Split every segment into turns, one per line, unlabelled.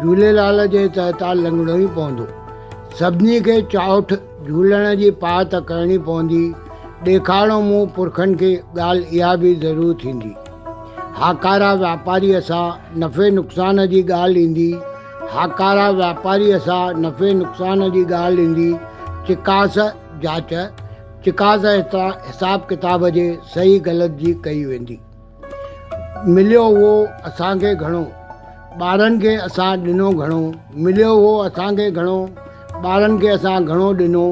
جهوليلال جي تهه تان لنگهڻو ئي پوندو. سڀني کي چاؤٺ جهولڻ جي پاهه ته ڪرڻي پوندي، ڏيکاڻو منهن پرکن کي ڳالهه اها به ضرور ٿيندي. هاڪارا واپاريء سان نفعي نقصان جي ڳالهه ايندي، هاڪارا واپاريء سان نفعي نقصان جي ڳالهه ايندي، چڪاس، جاچ، چڪاس هيٺان حساب ڪتاب جي صحيح غلط جي ڪئي ويندي. مليو هو اسان کي گهڻو، ٻارن کي اسان ڏنو گهڻو مليو هو اسان کي گهڻو، ٻارن کي اسان گهڻو ڏنو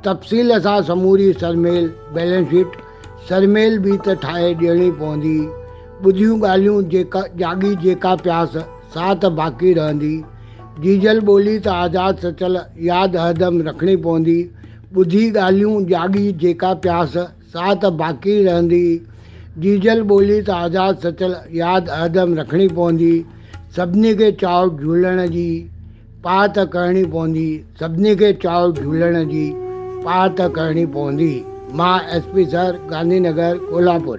تفصيل سان سموري سرميل، Balance Sheet، سرميل به ته ٺاهي ڏيڻي پوندي ٻڌيون ڳالهيون جيڪا جاڳي جيڪا پياس سا ته باقي رهندي جيجل ٻولي ته آزاد سچل ياد هردم رکڻي پوندي ٻڌي ڳالهيون جاڳي جيڪا پياس سا ته باقي رهندي. جيجل ٻولي ته آزاد سچل ياد هردم رکڻي پوندي. سڀني کي چاء جهولڻ جي، پاء ته ڪرڻي پوندي. سڀني کي چاء جهولڻ جي، پاء ته ڪرڻي پوندي. مان S P sir, Gandhi Nagar, Kolhapur.